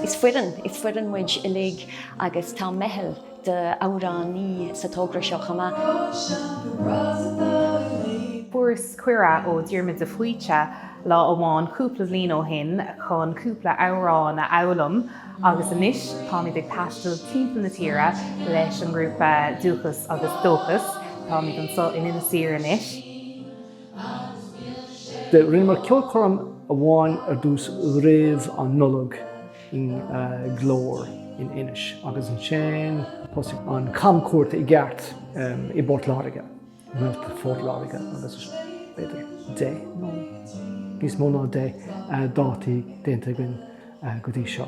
Is foireann, is foireann muid uilig agus tá meitheal d'amhránaithe sa togra seo chomh maith. Fuaireas cuireadh ó Diarmuid de Faoite lá amháin cúpla bliain ó shin chun cúpla amhrán a fhoghlaim agus anois táimid ag taisteal timpeall na tíre leis an ngrúpa Dúchas agus Dóchas. Táimid anso in Inis Oírr anois. Do rinneamar ceolchoirm amháin ar dtús roimh an Nollaig i nGlór in Inis agus ansin thosaigh an camchuairt i gceart i bPort Láirge, i bPort Láirge agus b'fhéidir deich nó níos mó ná deich dáta déanta againn go dtí seo.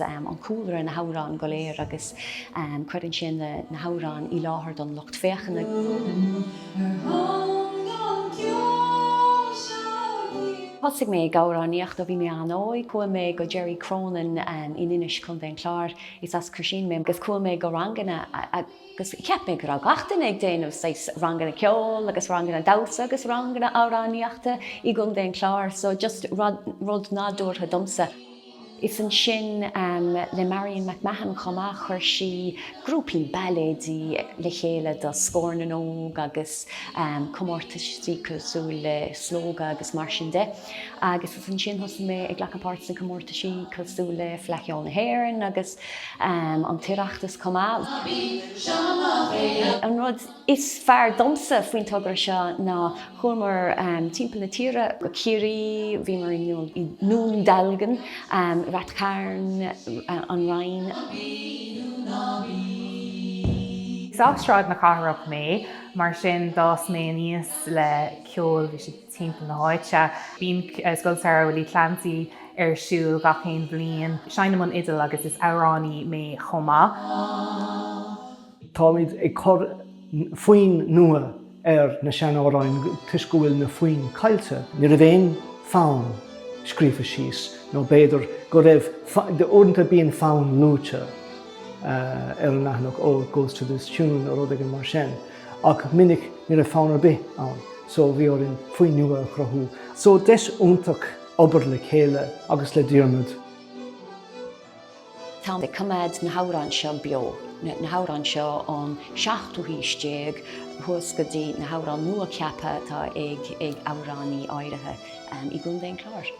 an cúlra, na hamhráin go léir agus cuireann sé na hamhráin i láthair don lucht féachana. Thosaigh mé ag amhránaíocht ó bhí mé an-óg. Chuaigh mé go Gerry Cronin in Inis, Contae an Chláir, is as Croisín mé, agus chuaigh mé go ranganna agus cheap mé go raibh gach duine ag déanamh saghas ranganna ceoil agus ranganna damhsa agus ranganna amhránaíochta i gContae an Chláir, so just rud nádúrtha domsa. Is ansin, le Marion McMahon chomh maith, chuir sí grúpaí bailéad le chéile do Scór na nÓg agus comórtaisí cosúil le Slógadh agus mar sin de. Agus is ansin thosaigh mé ag glacadh páirt sna comórtaisí cosúil le Fleadh Cheoil na hÉireann agus an tOireachtas chomh maith. An rud is fearr domsa faoin togra seo ná chuamar timpeall na tíre, go Ciarraí, bhíomar i nDún Dealgan, Rath Chairn, An Rinn. Is as Sráid na Cathrach mé, mar sin d'fhás mé aníos le ceol, bhí sé timpeall na háite. Bíonn Scoil Samhraidh Willie Clancy ar siúl gach aon bhliain, seinnim an fhidil agus is amhránaí mé chomh maith. Táimid ag cur foinn nua ar na sean-amhráin toisc go bhfuil na foinn caillte. Ní raibh aon fonn scríofa síos, nó b'fhéidir go raibh, uaireanta bíonn fonn luaite ar an leathanach, oh it goes to this tune nó rud éigin mar sin, ach minic ní raibh fonn ar bith ann so bhí orainn foinn nua a chruthú. So deis iontach obair le chéile agus le Diarmuid. Táim ag coimeád na hamhráin seo beo, na hamhráin seo ón seachtú haois déag thuas go dtí na hamhráin nua-cheaptha atá ag amhránaithe áirithe i gContae an Chláir.